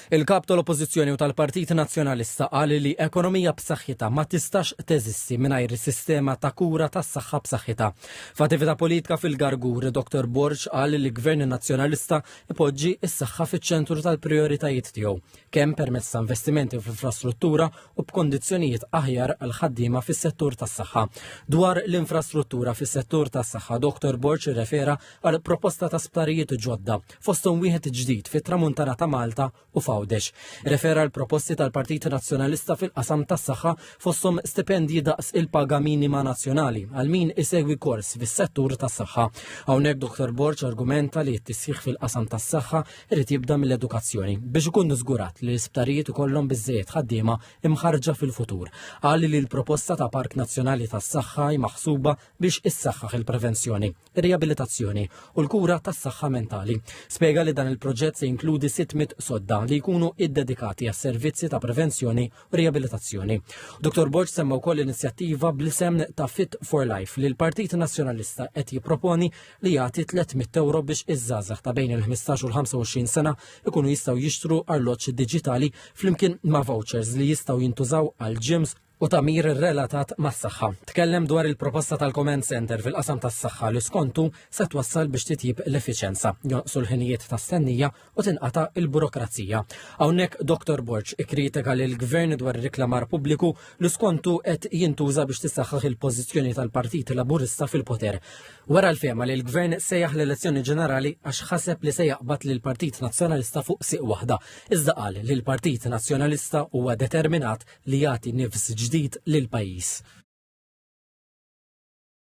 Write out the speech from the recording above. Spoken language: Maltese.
Il-Kap tal-Oppożizzjoni u tal-Partit Nazzjonalista qal li ekonomija b'saħħitha ma tistax teżisti mingħajr sistema ta' kura tas-saħħa b'saħħitha. F'attività politika fil-Gargur, Dr. Borg qal li Gvern Nazzjonalista ipoġġi s-saħħa fiċ-ċentru tal-prijoritajiet tiegħu, kemm permezz ta' investimenti fl-infrastruttura u b'kondizzjonijiet aħjar għal ħaddiema fis-settur tas-saħħa. Dwar l-infrastruttura fis-settur tas-saħħa, Dr. Borg irrefera għal proposta ta' sptarijiet ġodda fosthom wieħed ġdid fit-Tramuntana ta' Malta u f'Għawdex. Refera l-proposti tal-Partit Nazzjonalista fil-qasam tas-saħħa fosthom stipendji daqs il-paga minima nazzjonali għal min isegwi kors fis-settur tas-saħħa. Hawnhekk Dr. Borġ argumenta li t-tisħiħ fil-qasam tas-saħħa irid jibda mill-edukazzjoni biex ikun żgurat li l-isptarijiet ikollhom biżżejjed ħaddiema imħarġa fil-futur. Qal li l-proposta ta' Park Nazzjonali tas-Saħħa maħsuba biex issaħħaħ il-prevenzjoni. ir-riabilitazzjoni u l-kura tas-saħħa mentali. Spjega li dan il-proġett se jinkludi 600 sodda li jkunu iddedikati għas servizzi ta' prevenzjoni u riabilitazzjoni. Dr. Borg semma wkoll inizjattiva bl-isem ta' Fit for Life li l-Partit Nazzjonalista qed jipproponi li jagħti 300 euro biex iż-żgħażagħ ta' bejn il-15 u l-25 sena ikunu jistgħu jixtru arloġġ diġitali flimkien ma' vouchers li jistgħu jintużaw għal gyms u tagħmir relatat mas-saħħa. Tkellem dwar il-proposta tal-Command Center fil-qasam tas-saħħa li skontu se twassal biex titjib l-effiċenza, jonqsu l-ħinijiet ta' stennija u tinqata' il-burokrazija. Hawnhekk Dr. Borġ ikkritika lil gvern dwar ir-reklamar pubbliku li skontu qed jintuża biex tisaħħaħ il-pożizzjoni tal-Partit Laburista fil-poter. Wara l-fema li l-gvern sejjaħ l-elezzjoni ġenerali għax ħaseb li se jaqbad lil Partit Nazzjonalista fuq siq waħda, iżda qal li l-Partit Nazzjonalista huwa determinat li jagħti nifs ġdid lill-pajjiż.